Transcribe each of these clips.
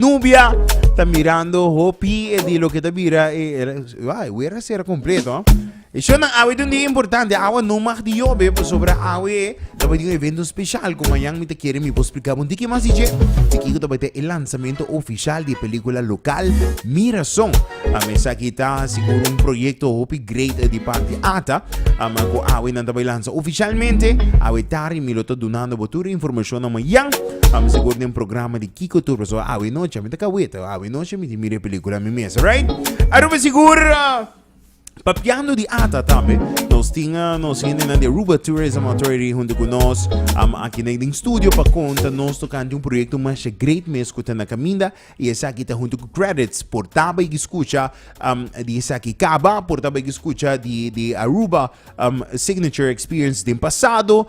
Nubia ta mirando hopi e di lo ke ta bira e wai wer a sera kompleto. E shon nan awe un dia importante, awa no mag di yobe pasobra awe tabata di un evento speshal ku mañan mi ta kere mi por splika bon di ki mas di dje, di kiko tabata e lansamento ofishal di e pelikula lokal Mirazon. A mesaki ta sigur un proyekto hopi great di parti ata ama ku awe nan ta bai lansa ofishalmente. Awe tarde mi lo ta dunando bo tur e informashonnan mañan, sigur den programa di Kiko tur pasobra awe noche mi ta kaweta awe noche mi tin mira e pelikula mi mes right Aruba sigur papiando di ata tambe nos tin nos hendenan di Aruba Tourism Authority hunto ku nos aki na den studio pa konta nos tokante un proyekto masha great mes ku ta na kaminda i esaki ta hunto ku credits por taba yagi skucha di esaki kaba por taba yagi skucha di Aruba signature experience den pasado.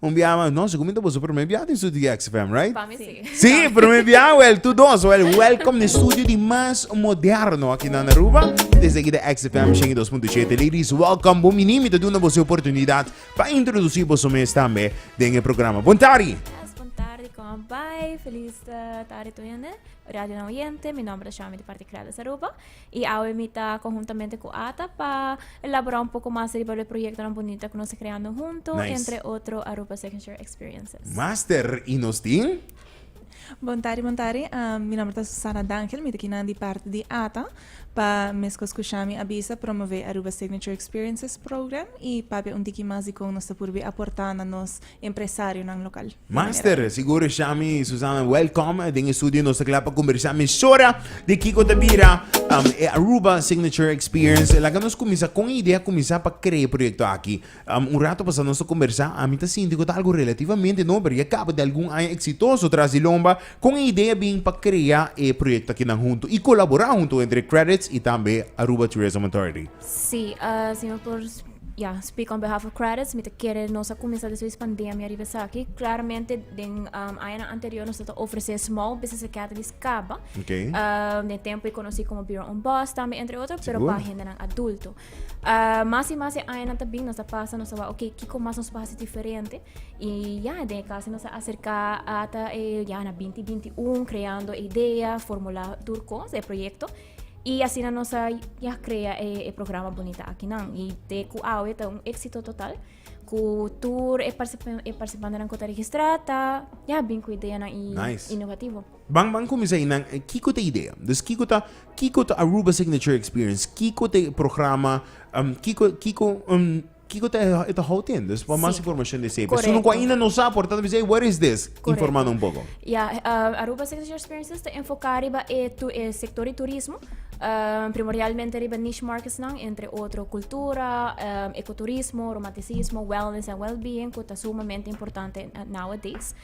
Un bia mas no, si cu mi ta boso primer bia den studio di XFM, right? Pa mi si. Si, primer bia wel, tu dos wel, welcome na studio di mas moderno aki nan Aruba. Desde aki de XFM 102.7, ladies, welcome. Bon bini, mi ta duna boso e oportunidad pa introduci boso mes tambe den e programa. Bon tardi! Yes, bon tardi, como bai? Feliz tardi tudu yende. Radionan oyente, mi nomber ta Shami di parti Creades Aruba. Y awe mi ta conjuntamente cu Ata pa elabora un poco mas riba lo e proyectonan bunita cu nos ta creando hunto, Nice. entre otro Aruba Second Share Experiences. Master, y nos tin? Bon tardi, bon tardi. Am, mi nomber ta Susana D'Angel, mi ta kinan di parti di Ata. Pa meskos ku Shami a bisa, promové Aruba Signature Experiences Program i papia un tiki mas di kon nos ta purbi aportá na nos empresarionan lokal. Master Sigur Shami y Susana welcome den e studio nos ta kla pa kombersá mesora di kiko ta bira e Aruba Signature Experience laga nos kuminsá kon e idea kuminsá pa kree e proyekto aki un rato pasá nos ta kombersá ami ta sinti ku ta algu relativamente no pero ya kaba di algun aña eksitoso tras di lomba kon e idea bin pa krea e proyekto aki nan huntu y kolaborá huntu entre Credits y tambe Aruba Tourism Authority. Sí, uh, si no por ja, speak on behalf of credits, mi te kere nos a comenzar de sois pandemia riba saki. Claramente, den um, aña anterior nos te ofrece small business academies caba. Okay. Um, den tempo ik conocí como Bureau on Boss también, entre otros, pero Seguro. para gente nan adulto. Uh, más y más aña te bin nos a pasa, nos a va, ok, kiko más nos pasa diferente. Y ja, den casi nos a acerca hasta eh, ja, na 2021, creando idea, formula, tur cos, el proyecto. Y asina nos a ya crea e, e programa bonita aki nan. Y te cu awe ta un éxito total. Cu tur e, particip e participantenan cu ta registra ta ya bin cu ideanan y Nice. innovativo. Ban ban cuminsa y nan eh, kico ta idea? Dus kico ta kico ta Aruba Signature Experience? Kico ta e programa? Um, kico kico um, Kiko ta e ta hou tende? Pues pa mas informashon di esei. Esun ku ainda no sa por ta bisa, where is this? Informa nan un poko. Ya, Aruba Signature Experiences ta enfoká riba e sektor di turismo, primordialmente riba niche marketsnan, entre otro kultura, ekoturismo, romantisismo, wellness en wellbeing ku ta sumamente importante nowadays.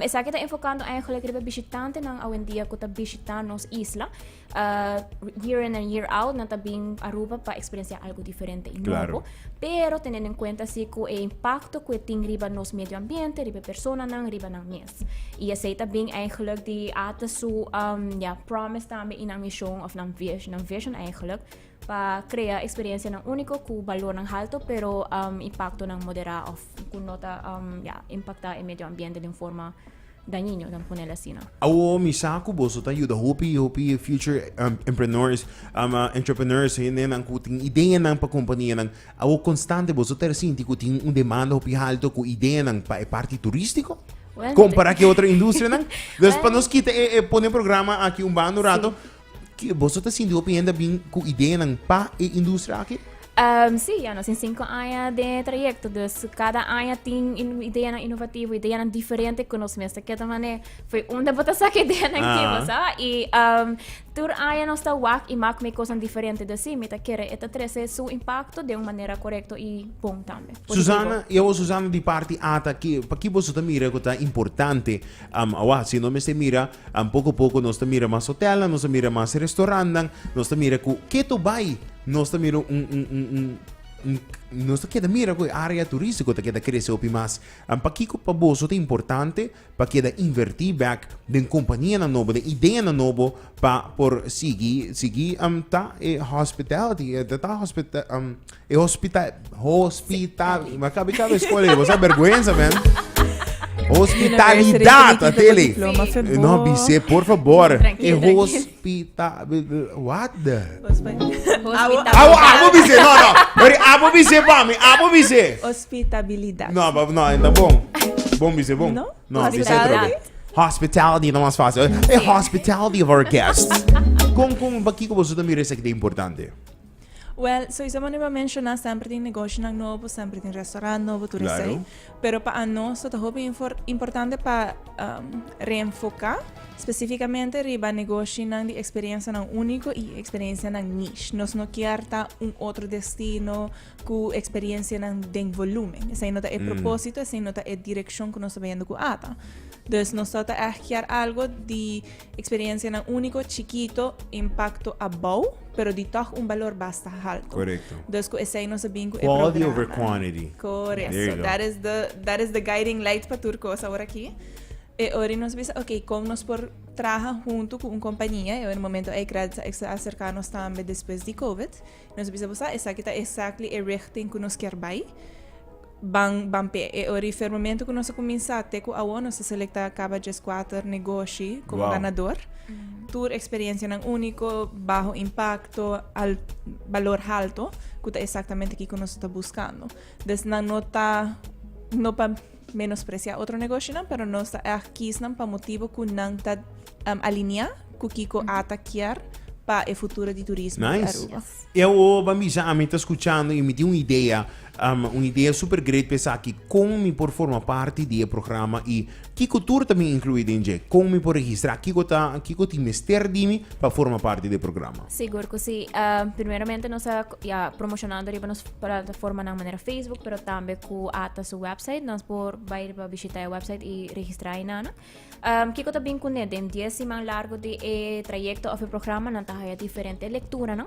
Esaki ta enfokando eigenlijk riba bishitantenan awendia ku ta bishitá nos isla year in and year out nan ta bin Aruba pa experiencia algo diferente y claro. Pero teniendo en cuenta si cu e impacto cu e tin riba nos medio ambiente, riba persona nan, riba nan mes. Y ese ta bin eigenlijk di ata su um, ja, promise tambe y nan mission of nan vision, nan vision eigenlijk pa krea eksperiensianan úniko ku balornan haltu pero impaktonan moderá òf ku no ta impaktá e medio ambiente den forma dañiño, dam pone el asina. Awo mi sa ku boso ta yuda hopi hopi future empreneurs, entrepreneurs, hendenan ku tin ideanan pa kompanianan. Awo konstante boso ta sinti ku tin un demanda hopi haltu ku ideanan pa e parti turístiko kompará ku e otro industrianan? Nos pa nos kita e pone programa aki un banda un rato Ke boso ta sinti hopi hende a bin ku ideanan pa e industria aki? Um, sí, ya nos tin cinco aña de trayecto, dus cada aña tin in, ideanan innovativo, ideanan diferente ku nos mes ta keda mané. Foi unda bo ta saka ideanan ah. kibo, sa? I um, tur aña nos ta wak i mak me kosan diferente. Dus sí, mi ta kere e ta trese su impacto de un manera correcto i bon tambe. Susana, yo e Susana di parti ata, ki, pa ki boso ta mira ku ta importante, um, awa, si no mester mira, And poko poko nos ta mira mas hotelnan, nos ta mira mas restaurantnan, nos ta mira ku ketu bai nos ta mira un un un un un nos ta keda mira ku e área turístiko ta keda krese hopi mas. And pakiko pa boso ta importante pa keda invertí bèk den kompanianan nobo, den ideanan nobo pa por sigui sigui ta e hospitality ta ta hospita. E hospita, hospital, ma kabe kabe escola e, bosa vergüenza man. Hospitalidad, University Atelie. University Diploma for Eh, No, both. Bise, por favor. E Tranquilo, tranquilo. hospita, what the? Hospital. Abo, abo Bise, no, no. Ori, abo Bise pa mi, abo Bise. Hospitabilidad. No, bab, no, ainda bom. Bom, Bise, bom. No? No, Bise, Hospitalidad. trobe. Hospitality, no mas fácil. E hospitality of our guests. Con, con, pa kiko boso también resa que te importante? Wel, soiso manera bo a menshoná semper tin negoshonan nobo, semper tin restaurant nobo, tur esei. Pero pa anostra ta hopi importante pa reenfoká spesífikamente riba negoshinan di eksperiensianan úniko i eksperensianan nish. Nos no kier ta un otro destino ku eksperensianan den volúmen. Esei no ta e propósito, esei no ta e direkshon ku nos ta bayendo ku ata. Dus nos tabata ègt kier algo di. Experiencianan unico, chikito, impacto a bou, pero di toch un balor basta halto. Correcto. Dus cu esey nos a bin cu e programa. Quality over quantity. Correcto. There you go. So that is the, that is the guiding light pa tur cos awor aki. E ori nos bisa, ok, con nos por traha hunto cu un compania, e ori momento ey credits a acerca nos tambe despues di Covid. Nos bisa bo sa, esaki ta exactly e richting cu nos kier bay. Ban, ban p'e e ora y firmamento cu nos a cuminsa te cu awor nos a selecta caba djes cuater negoshi como Wow. ganador. Tur experiencianan unico, baho impacto, al, balor halto, cu ta exactamente kico nos ta buscando. Des nan no ta, no pa, Menospresiá otro negoshonan, pero nos ta èg kies nan pa motibu ku nan ta aliniá ku kiko ata kier pa e futuro di turismo di Aruba. Nice! E awor ban bisa ami ta skuchando i mi tin un idea, un idea super great pa esaki, kon mi por forma parti di e programa i kiko tur ta bin inkluí den dje? Kon mi por registrá? Kiko ta kiko tin mester di mi pa forma parti di e programa? Sigur ku si. Primeramente nos a. ya promocionando riba nos plataformanan manera Facebook, pero tambe ku ata su website. Nos por bai riba bishita e website i registra inana. Um, kiko ta bin kune den 10 siman largo di e trayecto of e programa nan ta haya diferente lectura, no?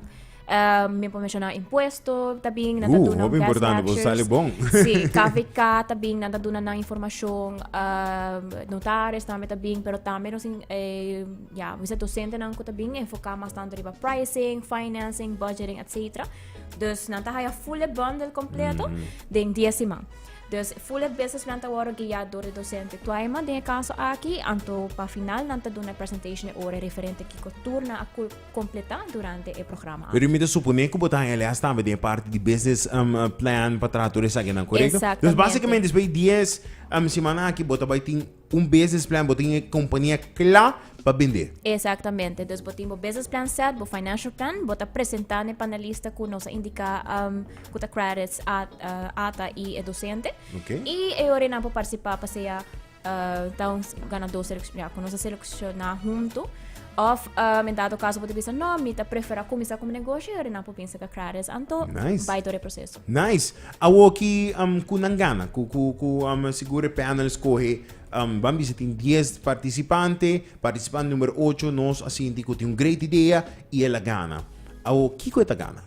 Um, mi por mencionar impuesto, ta bin nan ta Uh, duna hopi guest importante, bo lectures. sali bon. Sí, KVK ta bin nan ta duna nan informacion, um, notaris tambe ta bin, pero tambe nos in- eh, Ya, mi sa dosentenan ku ta bin enfoká mas tantu riba pricing, financing, budgeting, etcetera. Dus nan ta haya fully bundle kompleto den dia siman. Dus fully business plan ta wòrdu guiá dor e dosente Twaima den e kaso aki, anto pa final nan ta duna e presentation e ora referente kiko tur nan a kul- kompletá durante e programa Pero aki. mi ta suponé ku bo ta haya lès tambe den e parti di business em, plan pa traha tur esakinan, korekto? Exactamente. Dus basikamente despues di dies em, simannan aki bo ta bai tin Un business plan bo tin e kompania kla pa bende. Exactamente. Dus bo tin bo business plan set, bo financial plan, bo ta presenta n'e panelista cu nos a indica cu ta credits ata y e docente. Okay. Y e ora nan por participa pa sea ta un ganador selecciona cu nos a selecciona hunto. Of um, en dado caso bo ta bisa no, mi ta prefera comenzar como negocio, e ora nan por bin saca credits anto, nice. bay door e proceso. Nice! Awoki ku nan gana, ku ku sigur e panel skohe, ban bisa tin dies partisipante, partisipant numero ocho nos a sinti ku tin un great idea i el a gana. Awo kiko e ta gana?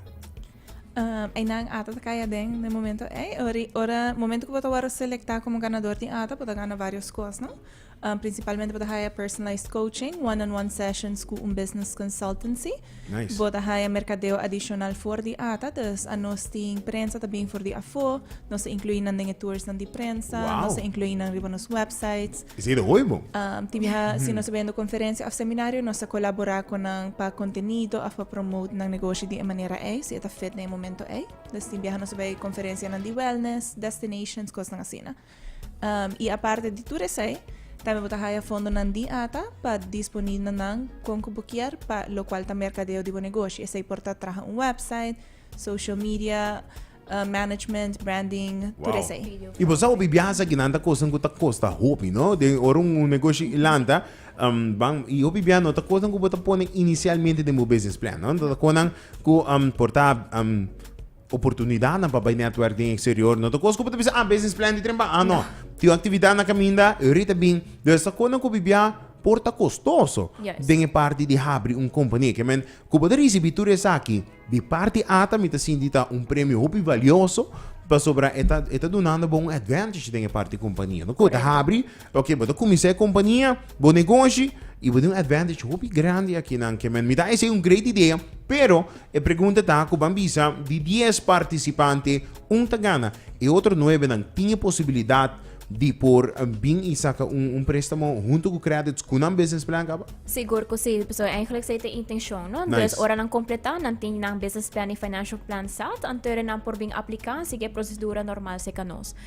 Einan ata ta kai aden na e momento ei. Ora, momento ku bo ta wòrdu selektá komo ganador tin ata, bo ta gana vários kos, no? Principalmente bo ta haya personalized coaching, one-on-one sessions cu un business consultancy. Nice. Bo ta haya mercadeo adicional for di ata, dus a nos tin prensa ta bin for di afo, nos ta inclui nan den e toursnan di prensa, wow. nos ta inclui nan riba nos websites. Is e de hoy bo? Um, ti biha, mm. si nos ta bendo conferencia of seminario, nos ta colabora con nan pa contenido of pa promote nan negocio di e manera ei, si e ta fit den e momento ei. Dus tin biha nos ta bay conferencianan di wellness, destinations, cosnan asina. I aparte di tur esei, tambe bo ta haya fondonan di ata pa disponi na nan kon ku bo kier pa lokual ta merkadeo di bo negoshi. Esei por ta traha un wèpsait, social media, management, branding, tur Wow. esei. I bo sa hopi biaha akinan ta kosnan ku ta kosta hopi, no? Den ora un negoshi lanta, am, ban, i hopi biaha no ta kosnan ku bo ta pone inisialmente den bo business plan, no? Nan ta konan ku, am, por ta, am, Oportunidadnan pa bai netwerk den eksterior no ta kos ku bo ta bisa, ah, business plan di tren pa, ah, no. Tin un aktividat na kaminda, e rit a bin. Lo esnan kon nan ku bibiá por ta kostoso den e parti di habri un kompania. Ke men, ku bo ta risibí tur esaki di parti ata mi ta sinti ta un premio hopi valioso pasobra e ta e ta dunando bo un advantage den e parti kompania, no? Ku ta habri. Oke, bo ta kuminsá e kompania, bo negoshi, i bo tin un advantage hopi grandi akinan, ke men mi ta esei un great idea, pero e pregunta ta ku ban bisa di dies partisipante un ta gana, e otro nuebenan tin e posibilidat di por bin i saka un un préstamo huntu ku krèdits ku nan business plan kaba? Sigur ku si, pasobra eigenlijk sa e ta e intenshon, no? Nice. Entonces ora nan kompletá, nan tin nan business plan i financial plan sèt, anto ora nan por bin apliká, sigui e prosedura normal seká nos.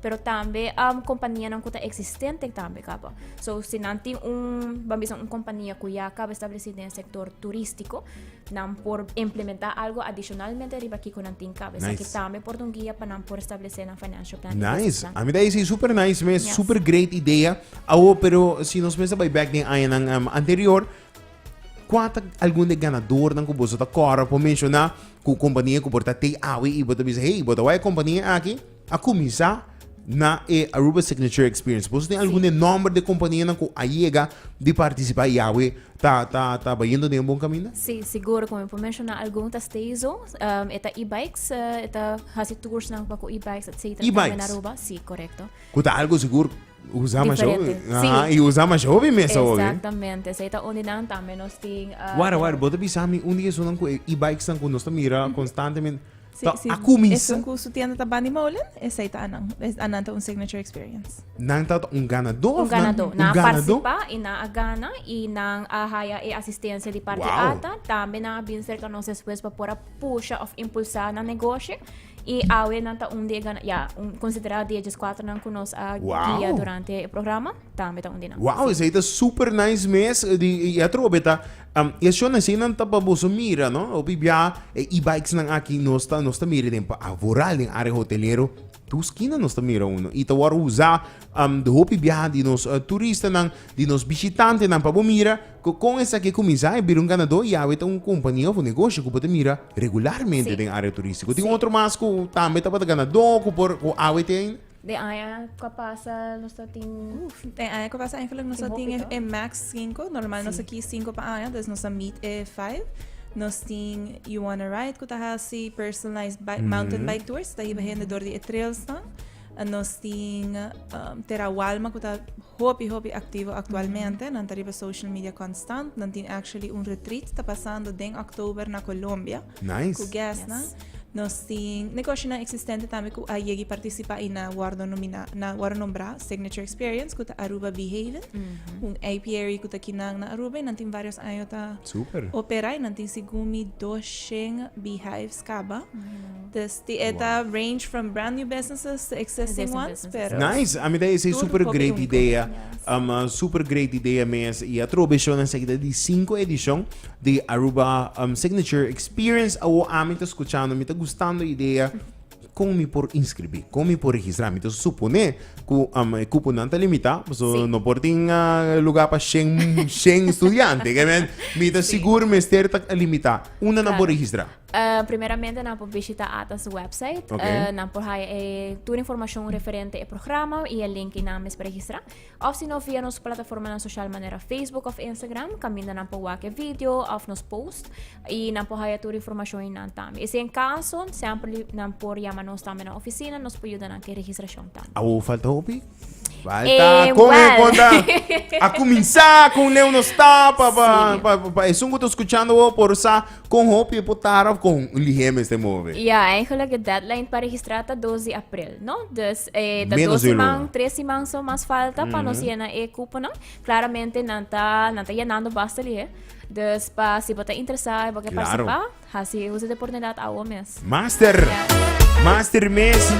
pero tambe um, kompanianan ku ta eksistente tambe kaba. So, si nan tin un, van bisa un kompania ku ya kaba establesi den sektor turistiko, nan por implementa algo adicionalmente riba kiko nan tin kaba. Nice. Nice. tambe por dun guia pa nan por establesi nan financial plan. Nice. A mí dice super nice, me yes. super great idea. Awo, pero si nos mesa by back den aña um, ehm, anterior, kwata algun de ganador nan ku boso ta kora por menciona ku kompania ku porta te awi i bota bisa, hey, bota wai kompania aki? A kuminsá na e Aruba Signature Experience. Boso tin algun di e nòmber di e kompanianan ku a yega di partisipá i awe ta ta ta bayendo den e bon kaminda? Sí, sigur. Komo mi por menshoná algun ta Stayzo, e ta e-bikes, e ta hasi tursnan pa ku e-bikes etcétera tambe na E-bikes? Aruba. Sí, korekto. Ku ta algu sigur usá masha hopi. Diferente, sí. Aha, i usá masha hopi mester hopi. Exactamente. Esei ta un di nan. Tambe nos tin, ah, Wara, wara, bo ta bisa mi un di esunnan ku e e-bikesnan ku nos ta mira konstantemente. Si, Ta si a kumisa. esun ku su tienda ta Bani Molen, esei ta anan. Es, anan ta un signature experience. Nan ta un ganadó? Un of nan- ganadó. Nan Un a ganadó? partisipá i nan a gana i nan a haya e asistensia di parti Wow. ata. Tambe nan a bin serka nos despues pa por a pusha òf impulsá nan negoshi. I awe nan ta un di e gana, ya, un konsiderá di e djeskwaternan ku nos a Wow. guia durante e programa. tambe ta un dinamika. Wow, esei ta super nice mes. Eh, di, i a trova beta, um, e shona sei nan ta pa boso mira, no? Opi bia e e-bikes nan aki nos ta, nos ta mira den pa Avoral, den área hotelero. Tu skina nos ta mira uno. I ta wòrdu usá um, di hopi bia di nos uh, turistanan, di nos bishitantenan pa bo mira ku kon esaki e kuminsá e bira un ganadó i awe ta un kompania òf un negoshi ku bo ta mira regularmente Sí. den área turístiko. Tin Sí. otro mas ku tambe tabata ganadó ku por ku awe te ainda? Den aña cu a pasa nos ta tin. Uf, den aña cu a pasa eigenlijk nos ta tin e, e max 5. Normal sí. nos ta kies 5 pa aña, dus nos ta meet e 5. Nos tin You Wanna Ride, cu ta hasi personalized bike, mm -hmm. mountain bike tours, ta hiba hende door di e trails dan. En nos tin um, Terra Walma, cu ta hopi, hopi activo actualmente. Mm -hmm. Nan ta riba social media constant. Nan tin actually un retreat ta pasando den oktober na Colombia. Nice. Ku guestnan. Nos tin negoshonan eksistente tambe ku a yegi partisipá i na wòrdu nominá, na wòrdu nombrá Signature Experience ku ta Aruba Bee Haven, un apiary ku ta kinan na Aruba i nan tin vários año ta Super. operá i nan tin si gumi doshen beehives kaba. Ti e ta range from brand new businesses to existing ones pero. Nice, ami ta esei super great idea, um super great idea mes y atro beshona esaki ta di cinco edicion di Aruba um signature experience awo ami ta scuchando mi ta gustando idea con mi por inscribi con mi por registra mi ta supone cu um e cuponan ta limita paso no por tin lugar pa shen shen studiante mi ta sigur mester ta limita unda nan por registra? Uh, primeramente nan por visita ATA's website. Okay. Uh, nan por haya eh, tur informacion referente e programa y el link y nan mes registra. Of si no via nos plataforma nan social manera Facebook of Instagram, caminda nan por wake video of nos post y nan por haya tur informacion y nan tam. Y si en caso, siempre nan por llama nos también na oficina, nos por ayuda nan que registracion tam. Awo falta hopi? Falta con e conta. A comenzar con Leo nos está pa pa pa pa eso que escuchando o por sa con hopi e potar of con lihem este move. Ja, eigenlijk e deadline para registrar ta 2 de april, no? Dus eh, ta Menos dos de man, luna. tres de man so mas falta pa nos llena e cuponan. Claramente nan ta, nan ta llenando basta lihe. Dus pa si bo ta interesado, bo ke Claro. participa, Hasi usa di oportunidad awo mes. Master! Master mes!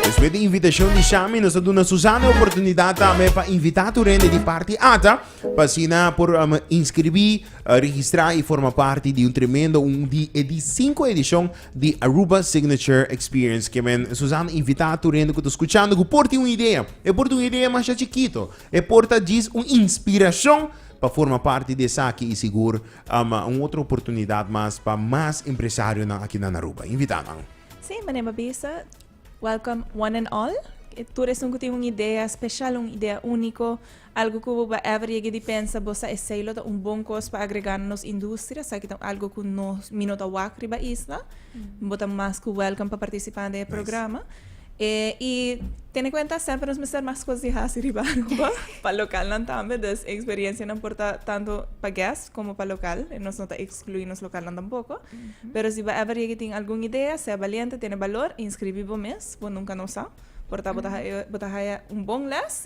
Despues di invitacion di Shami nos a duna Susana e oportunidad tambe pa invita tur hende di parti ata pa asina por inscribi, registra y forma parti di un tremendo un di e di cinco edicion di Aruba Signature Experience. Ke men Susana invita tur hende cu ta scuchando cu por tin un idea. E por ta un idea masha chikito, e por ta djis un inspiracion pa forma parti di esaki y sigur Ama un otro oportunidad mas pa mas empresarionan aki nan Aruba. Invita nan. Sí, mane Mabisa. Welcome one and all. E tur esun cu tin un idea special, un idea unico, algo cu bo ba ever yega di pensa bo sa esey lo ta un bon cos pa agrega na nos industria, esaki ta algo cu no mi no ta wak riba isla, bo ta mas cu welcome pa participa den e programa. E i tene kuenta semper nos mester mas kos di hasi riba Aruba pa lokalnan tambe. Dus e eksperiensianan por ta tantu pa gèst komo pa lokal. Nos no ta ekskluí nos lokalnan tampoko. Pero si bo ever yega i tin algun idea, sea baliente, tene balor, inskribí bo mes. Bo nunka no sa. Por ta bo ta haya un bon lès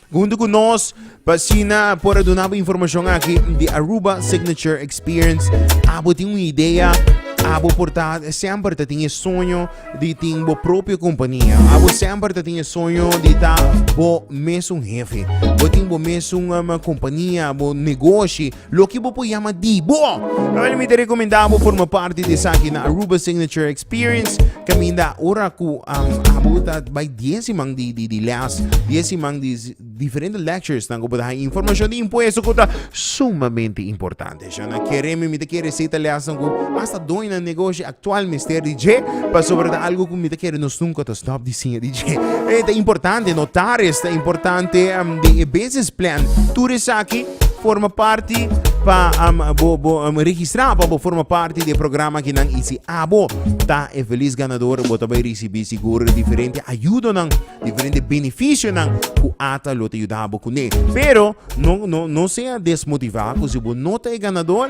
Hunto ku nos pa asina por a duna bo informashon aki di Aruba Signature Experience. Abo tin un idea, abo por ta semper ta tin e soño di tin bo propio kompania. Abo semper ta tin e soño di ta bo mesun hefe. Bo tin bo mesun kompania, bo negoshi. Loke bo por yama di bo. Awor mi ta rekomendá bo forma parti di esaki na Aruba Signature Experience kaminda ora ku abo ta bai dies siman di lès, dies siman di diferente lecturesnan ku por ta haña informashon di impuesto ku ta sumamente importante. Shon a kere mi, mi ta kere seta lèsnan ku asta doño na negoshi a Actual mester di dje, pasobra ta algo cu mi ta kere nos nunca ta stop di siña di dje. E ta importante notar es ta importante den e business plan. Tur esaki forma parti pa bo bo registra pa bo forma parti di e programa aki nan. Y si abo ta e feliz ganador bo ta bay ricibi sigur diferente ayudonan, diferente beneficionan cu ata lo ta yuda bo cune. Pero no no no sea desmotiva cu si bo no ta e ganador